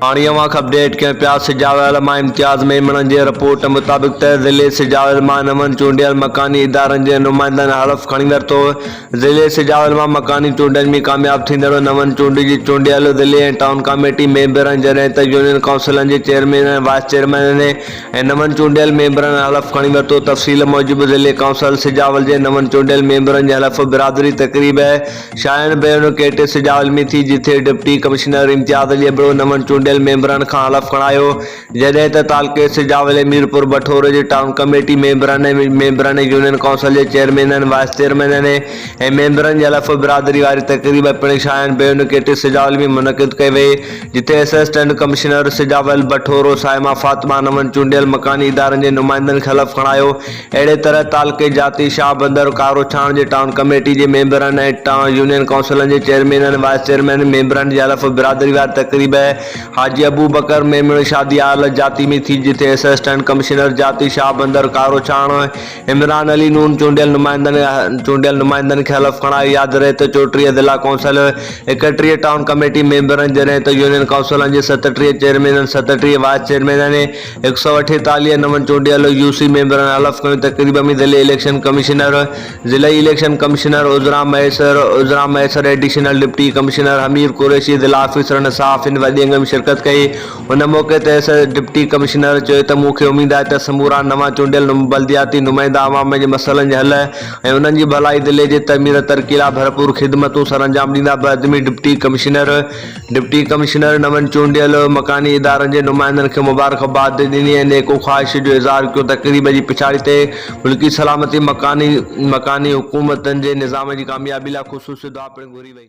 هاڻي اوهان کي اپڊيٽ ڪيون پيا سجاويل مان امتياز ميمڻ جي رپورٽ مطابق ته ضلعي سجاويل مان نون چونڊيل مڪاني ادارن جي نمائندن حلف کڻي ورتو ضلعي سجاويل مان مڪاني چونڊن ۾ ڪامياب ٿيندڙ نون چونڊي جي چونڊيل ضلعي ۽ ٽائون ڪاميٽي ميمبرن جڏهن ته يونين ڪائونسلن جي چيئرمين ۽ وائيس چيئرمينن ۽ نون چونڊيل ميمبرن حلف کڻي ورتو تفصيل موجب ضلعي ڪائونسل سجاول جي نون چونڊيل ميمبرن جي حلف برادري تقريب شاهين بيرنو ڪيٽي سجاء علمي ٿي جتي ڊپٽي ڪمشنر امتياز علي ابڙو نون چونڊيل ميمبرن کان حلف کڻايو جڏهن ته تعلقي سجاء علي ميرپور بٺورو جي ٽائون ڪميٽي ميمبرن ميمبرن ۽ يونين ڪائونسل جي چيئرمينن وائيس چيئرمينن ۽ ميمبرن جي حلف برادري واري تقريب پڻ شاهين بيرنو ڪيٽي سجاء علمي منعقد ڪئي وئي جتي اسسٽنٽ ڪمشنر سجاء علمي بٺورو صائمه فاطمه نون چونڊيل مڪاني ادارن جي نمائندن کي حلف کڻايو اهڙي طرح تعلقي جاتي شاهبندر، ڪاروڇاڻ جي ٽائون ڪميٽي جي ميمبرن ۽ ٽائون يونين ڪائونسلن جي چيئرمينن، وائيس چيئرمينن، ميمبرن جي حلف برادري واري تقريب حاجي ابوبڪر ميمڻ شادي هال جاتي ۾ ٿي جتي اسسٽنٽ ڪمشنر جاتي شاهبندر، ڪاروڇاڻ عمران علي نون چونڊيل نمائندن چونڊيل نمائندن کي حلف کڻايو ياد رهي ته چوٽيهه ضلع ڪائونسل، ايڪٽيهه ٽائون ڪميٽي ميمبرن جڏهن ته يونين ڪائونسلن جي ستٽيهه چيئرمينن، ستٽيهه وائيس چيئرمينن ۽ هڪ سؤ اٺيتاليهه نون چونڊيل يو سي ميمبرن حلف کنيو ته قريب ۾ ئي ضلعي اليڪشن ڪمشنر، ضلعي election commissioner, Azra Mahesar, Azra Mahesar additional deputy commissioner Humair Qureshi, ضلع آفيسرن ۽ صحافين وڏي انگ ۾ شرڪت ڪئي. ان موقعي تي ايس ايس ڊپٽي ڪمشنر چيو ته مون کي اميد آهي ته سمورا نوان چونڊيل بلدياتي نمائندا عوام جي مسئلن جي حل ۽ انهن جي ڀلائي ضلعي جي تعمير ترقي لاء ڀرپور خدمتون سرانجام ڏيندا بعدمي ڊپٽي ڪمشنر ڊپٽي ڪمشنر نون چونڊيل مڪاني ادارن جي نمائندن کي مبارڪباد ڏني ۽ نيڪو خواهش جو اظهار ڪيو تقريب جي پڇاڙي تي ملڪي سلامتي مڪاني مڪاني حڪومتن جي نظام جي ڪاميابي لاء خصوصي دعا پڻ گهري وئي.